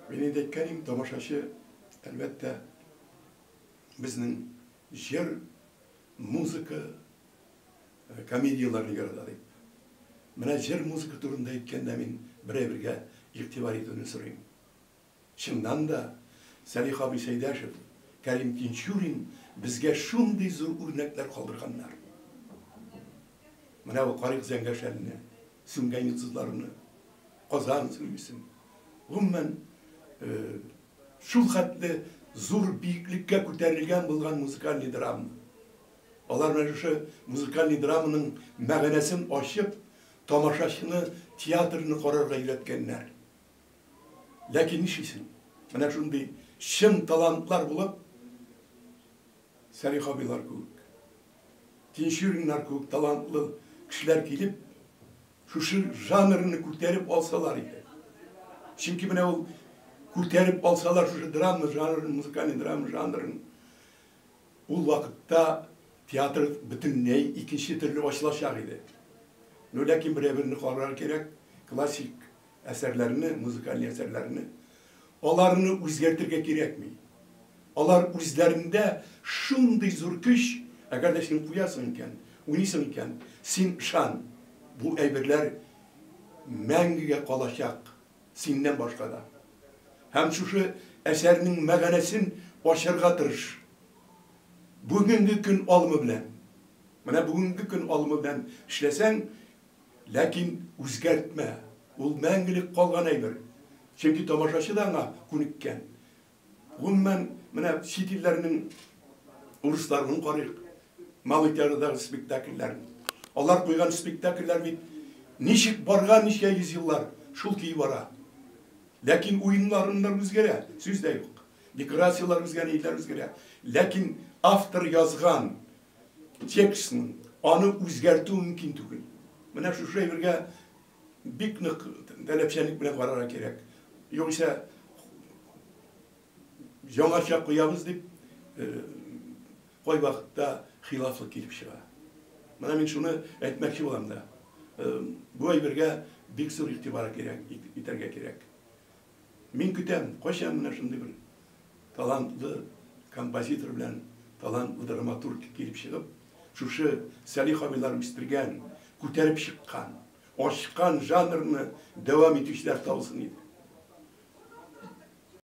Мин инде әйткән идем, тамашачы, әлбәттә, безнең җыр, музыка, э, комедияләрне ярата дип. Менә җыр, музыка турында әйткәндә мин бер әйбергә игътибар итүне сорыйм. Чыннан да, Сәлих абый Сәйдәшев, Кәрим Тинчурин безгә шундый зур үрнәкләр калдырганнар. Менә бу Карик Зәңгәшәлне, сүнгән йолдызларны. Казан исеме бирсен. Гомумән, шул хәтле зур биеклеккә күтәрелгән булган музыкальный драма. Алар менә шушы музыкальный драманың мәгънәсен ачып, тамашачыны театрны карарга өйрәткәннәр. Ләкин нишлисең, менә шундый чын талантлар булып, Сәлих абыйлар кебек, Тинчуриннар кебек талантлы кешеләр килеп, Шушы жанрны күтәреп алсалар иде. Чөнки менә ул күтәреп алсалар шушы драма жанрын, музыкальный драма жанрын, ул вакытта театр бөтенләй икенче төрле ачылачак иде. Ну, ләкин берәү берне карарга кирәк, классик Әсәрләрне, музыкаль әсәрләрне, аларны үзгәртергә кирәкми. Алар үзләрендә шундый зур көч, әгәр дә син куясың икән, уйныйсың икән, син ышан, бу әйберләр мәңгегә калачак, синнән башка да. Һәм шушы әсәрнең мәгънәсен ачарга тырыш. Бүгенге көн алымы белән, менә бүгенге көн алымы белән эшләсәң, Ләкин үзгәртмә, ул мәңгелек калган әйбер, чөнки тамашачы да аңа күнеккән. Гомумән, менә чит илләрнең урысларының карыйк, Малый театрдагы спектакльләрен. Алар куйган спектакльләр бит ничек барган ничә йөз еллар, шул көе бара. Ләкин уеннарыннар үзгәрә, сүз дә юк. Декорацияләр үзгәрә, ниләр үзгәрә. Ләкин автор язган Текстның, аны үзгәртү мөмкин түгел. Менә шушы әйбергә бик нык таләпчәнлек белән карарга кирәк. Югыйсә, яңача куябыз дип, кайвакытта хилафлык килеп чыга. Менә мин шуны әйтмәкче булам да. Бу әйбергә бик зур игътибар кирәк, итәргә кирәк. Мин көтәм, кайчан менә шундый бер талантлы композитор белән талантлы драматург килеп чыгып, шушы Сәлих абыйлар үстергән, күтәреп чыккан, ачкан жанрны дәвам итүчеләр табылсын иде.